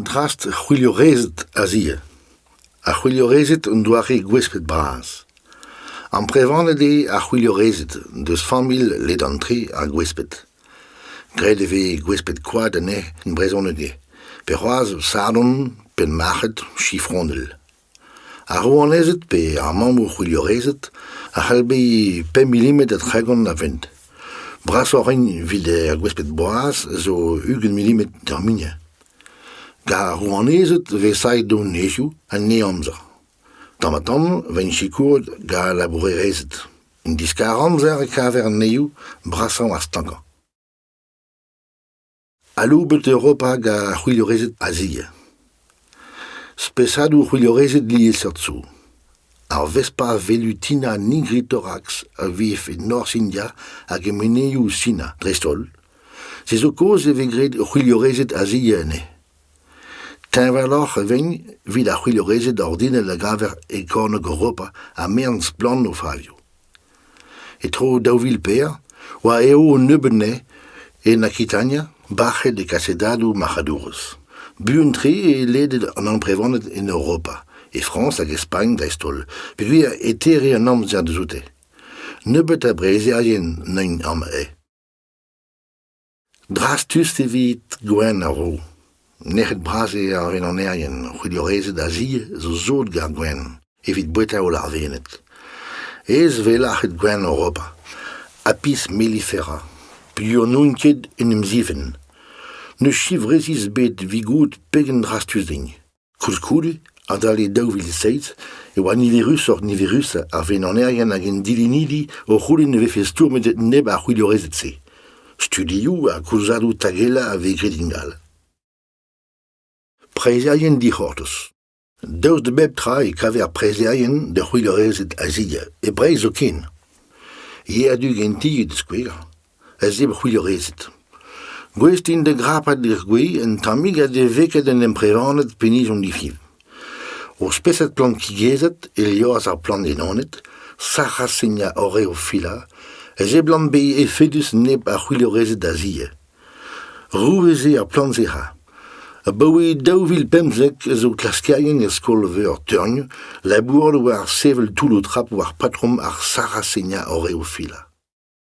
Drast ar c'hwilhorezed a-zivout ar c'hwilhorezed un doare gwesped bras. Amprevaned eo ar c'hwilhorezed deus familh ledan-tre ar gwesped. Graet e vez gwesped-koad anezhe e brezhoneg ivez, pe c'hoazh sadorn pe marc'had chifronel. Ar rouanezed pe ar mammoù c'hwiliorezed a c'hell bezañ pemp milimetr da tregont a vent. Brasoc'h int evit ar gwesped boaz zo ugent milimetr terminiñ. Gant ar rouanezed e vez savet donezoù en henamzer. Tamm-ha-tamm e vezint sikouret gant al labourerezed. En diskar-amzer e kaver anezho brasañ ha stankañ. Aloubet Europa gant ar c'hwilhorezed Azia. Spesadoù c'hwilhorezed liesseurt zo. Ar Vespa velutina nigrithorax a vev e norzh India hag e menezioù Sina dreist-holl. Se zo kaoz e vez graet c'hwilhorezed Azia anezhe. Teñvaloc'h e vez evit ar c'hwilhorezed ordinel a gaver e kornôg Europa ha merenn splann o favioù. E-tro daou vil pevar oa eo an nebeud anezhe en Akitania bac'het e kasedadoù marc'hadourezh. Buan-tre eo ledet an amprevaned en Europa, e Frañs hag e Spagn dreist-holl, peogwir e tere an amzer dioute. Nebeut a breizherien n'int amañ. Drastus evit Gwenn a ro. Nec'het-bras eo ar wenanerien. C'hwiliorezed a-ziz zo sot gant Gwenn evit boueta holl ar Vened. Aes eo lâret Gwenn Europa. Apis mellifera. Piv n'oun ket en em zivenn. Ne chiv resis bet 'vit goût pegen drastus din. Koulskoude, adalek daou vil seizh e oa niverusoc'h niverusañ ar venanerien hag an dilennidi o c'houlenn e vefe stourmet neb ar c'hwilorezed-se. Studioù ha koulzadoù tagellañ a vez graet ingal. Preizherien dic'hortoz. Daoust da bep tra e kaver preizherien da c'hwilorezed a-zivout e Breizh zoken. Yer du ganti da skouer. ez eo c'hwilhorezed. Gouest int da grapat d'ar gwez un tammig ha da veket an emprevaned penaos hiziv. O spesad plantigezed, e liorzh ar plandenoned, Sarracenia oreophylla, a seblant bezañ efedus nep a c'hwilhorezed da zie. Rouez eo ar plant-se-ra. Abaoe daou vil pemzek ez eo klaskerien er skol-veur Teugn labouret war sevel toulloù-trap war patrom ar Sarracenia oreophylla.